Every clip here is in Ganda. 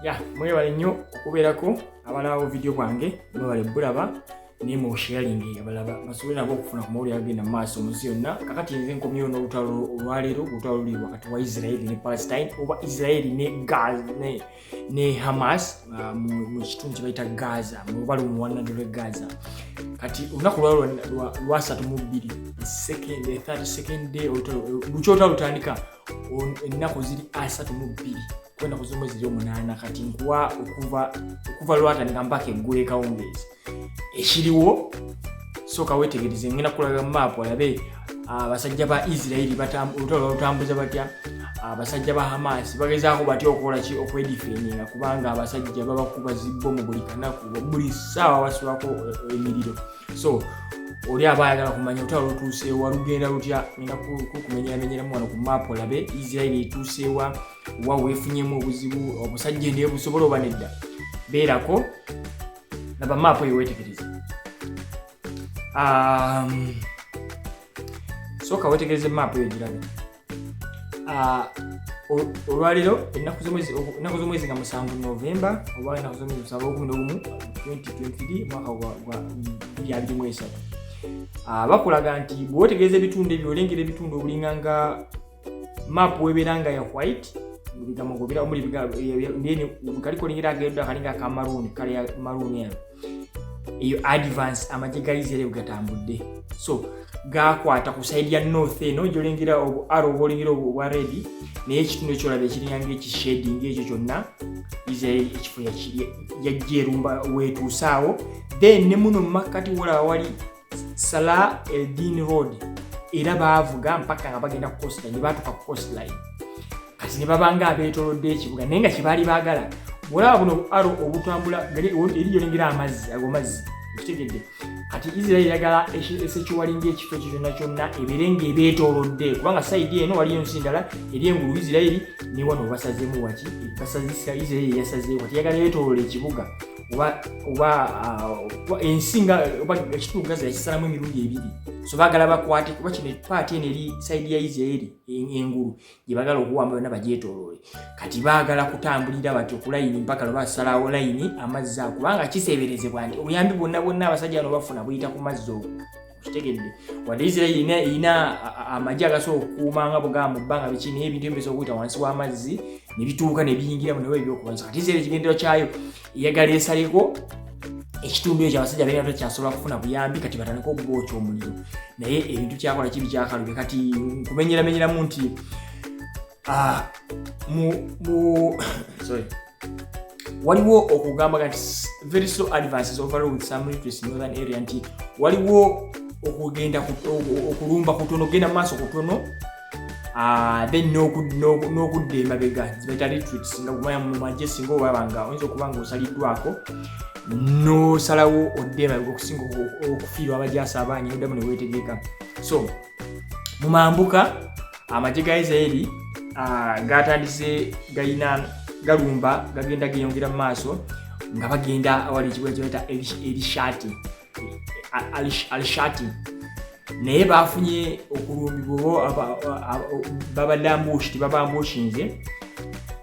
ya mwebale nnyo okubeerako abalawo vidiyo bwange mwebale bulaba naye mu sharingi abalaba basobole nabo okufuna ku mawulire agenda mu maaso mu nsi yonna kakati nze nkomyewo n'olutalo olwaleero olutalo luli wakati wa israeli ne palestine oba israeli ne gaz ne, ne hamas uh, mu kitundu kye bayita gaza mu lubalu mu wanado lwe gaza kati olunaku lwalo lwasatu mu bbiri second 30 second day olutalo lukyotalu lutandika ennaku ziri asatu mu bbiri kwenda ku z'omwezi eri omunaana kati nkuwa okuva okuva lwatandika mpaka eggulu ekawungeezi ekiriwo sooka weetegereze ngenda kulaga maapu olabe abasajja ba isirairi olutalo balutambuza batya abasajja ba hamaasi bagezaako batya okukola ki okwedifeninga kubanga abasajja babakuba zibbomu buli kanaku buli ssaawa basulako eh, emiriro so oli aba ayagala kumanya otwala otuuseewa lugenda lutya ngenda kukumenyeramenyeramu wano ku maapu olabe isirairi etuuseewa wa weefunyemu obuzibu obusajja naye busobola oba nedda beerako laba maapu eyo weetegereze um, sooka weetegereze maapu eyo girabe uh, olwaleero ennaku z'omwezi nga musanvu novemba oba ennaku z'omwezi musanvu okumi n'ogumu 2023 mwaka gwa 2023 bakulaga nti bwewetegeeza ebitundu ebyo olengera ebitundu obulinga nga map webeera nga ya white bigambo ngobira omuli bigambeni kali kolengera agenda akalinga aka maroon kale ya maroon eno eyo advance amagye ga israel gatambudde so gakwata ku side ya north eno gyolengera obu aro obolengera obu obwa redi naye ekitundu ekyolaba ekirinyanga ekishading ekyo kyonna israel ekifo yajja erumba wetuusaawo then ne muno mumakkati wolaba wali Salah Eldin Road era baavuga mpaka nga bagenda ku coastline baatuka ku coastline kati ne babanga abeetolodde ekibuga naye nga kyebaali baagala olaba buno aro obutambula eri gyolengera amazzi ago mazzi okitegedde kati israeli yagala esekiwalinga ekifo ekyo kyonna kyonna ebeere nga ebeetolodde kubanga saidi eno waliyo ensi ndala eri engulu israeli newano basazemu waki basazisa israeli yasazeewo kati yagala yeetolola ekibuga oba ensi nga oba ekitundu gaza yakisalamu emirundi ebiri so bagala bakwate kuba kino epaati eno eri saidi ya isiraeri engulu gye bagala okuwamba yonna bagyetoloole kati bagala kutambulira bati okulayini mpaka lwe basalawo layini amazzi ago kubanga kiseeberezebwa nti obuyambi bwonna bwonna abasajja bano bafuna buyita ku mazzi ogo kitegedde wadde isirairi erina erina amagye agasobola okukuuma nga bugamba mu bbanga biki naye ebintu ebisobola okuyita wansi w'amazzi ne bituuka ne biyingira mu newe ebyokubanza kati isirairi ekigendero kyayo eyagala esaleko ekitundu ekyo abasajja balina takyasobola kufuna buyambi kati batandika okubookya omuliro naye ebintu kyakola kibi kyakalube kati nkumenyeramenyeramu nti ah, waliwo okugamba nti very slow advances overall with some literacy in northern area nti waliwo okugenda okulumba kutono okugenda maaso kutono Ah, then n'okudda emabega zibaita retreats nga kumanya mu magye singa obaba nga oyinza okuba nga osaliddwako n'osalawo odde emabega okusinga okufiirwa abajaasi abaanyi oddamu ne weetegeka so mu mambuka amagye ga isiraeri gatandise galina galumba gagenda geyongera mu maaso nga bagenda awali ekibuga kyeta elishati alishati naye bafunye okulumbibwa babadde ambushi tebabambushinze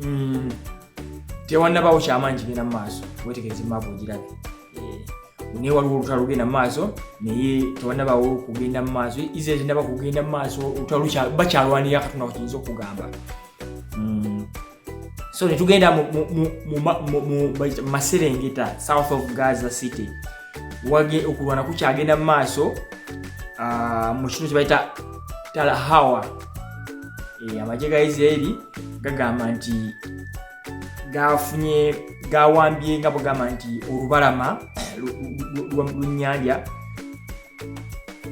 Mm. tewanabawo kyamanyi kigenda mumaaso wetegeze maapu ogirabe eh, naye waliwo olutalo lugenda mumaaso naye tewanabawo kugenda mumaaso israel tenaba kugenda mumaaso olutalo bakyalwanira katonda kukiyinza okugamba mm. so netugenda mumaserengeta south of gaza city wage okulwana kukyagenda mu maaso ah, mu kino kyebayita talahawa eh, amagye ga isiraeri gagamba nti gafunye gawambye nga bwegamba nti olubalama lunyanja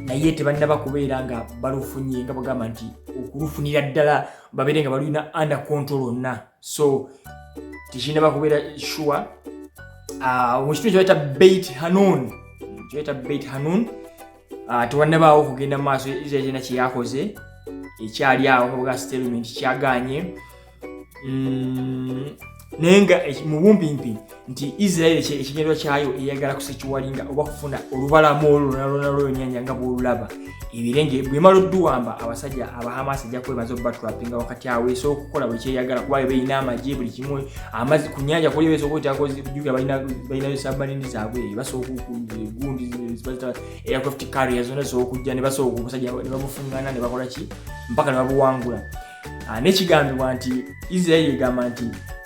naye tebannaba kubeera nga balufunye nga bwegamba nti okulufunira ddala babeere nga balulina under control onna so tekinaba kubeera sure ah, mu kitundu kyebayita beit hanun kyebayita beit hanun ah, tewannabaawo okugenda mu maaso israel kyena kyeyakoze ekyali awo kabuga statement kyaganye mm, naye nga eh, mu bumpimpi nti isiraeri ekinyerwa kyayo eyagala kusekiwalinga oba kufuna olubalamu olwo nalwona lweyonyanja nga bwolulaba ebirenge bwemala odduwamba abasajja abahamasi ejja kwebaza obubatwapinga wakati awo esobola okukola buli kyeyagala kuba bebalina amagye buli kimu amazi ku nyanja kuli besobola okutyakojuga balinayo sabanini zaabwe basobola okugundi aircraft carrier zona zisobola okujja nebasobola omusajja nebamufungana nebakola ki mpaka nebabuwangula ah, nekigambibwa nti isiraeri egamba nti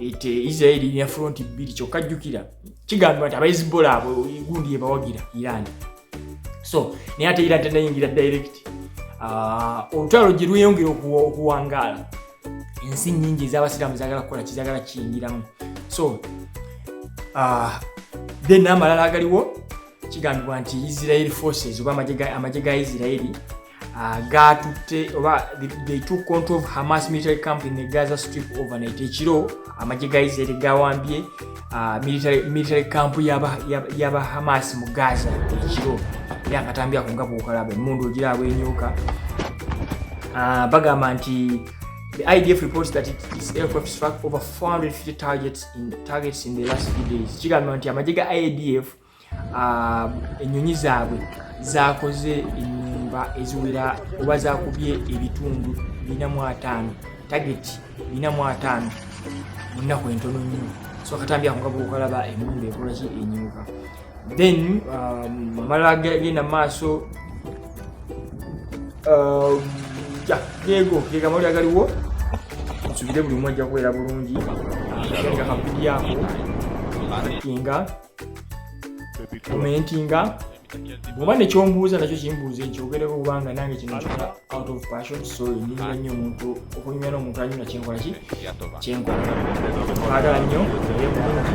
ete eh, israeli ina fronti bbiri kyokka jjukira kigambibwa nti abaezibola abo gundi yebawagira iran so naye ate iran tenayingira direct ah, olutalo gye lweyongera okuwangaala ensi nyingi ezabasiraamu zagala kukola kizagala kiyingiramu so ah, then amalala agaliwo kigambibwa nti israeli forces oba amagye ga israeli uh, gaatutte oba they took control of hamas military camp in the gaza strip overnight ekiro amagye ga israel gawambye uh, military, military camp yaba, yaba, yaba hamas mu gaza ekiro era akatambi ako nga bwokalaba emundu ogira abwenyuka uh, bagamba nti The IDF reports that it, its aircraft struck over 450 targets in, targets in the last few days. Chigamante, Amajiga IDF Ah, ennyonyi zaabwe zaakoze ennyumba eziwera oba zaakubye ebitundu bina mu ataano tageti bina mu ataano mu nnaku entono nnyo so katambi ako ngaba okalaba emundu ekolaki enyuka then um, amala gagenda mu maaso um, geego gegamawuli agaliwo nsubire buli omu ajja kubeera bulungi nga kampidi ako nga komentinga oba nekyombuuza nakyo kimbuuza ekyogereko kubanga nange kino kyoka out of passion so nyumira nnyo omuntu okunyumira n'omuntu anyumira kyenkola ki kyenkola agala nnyo naye bulungi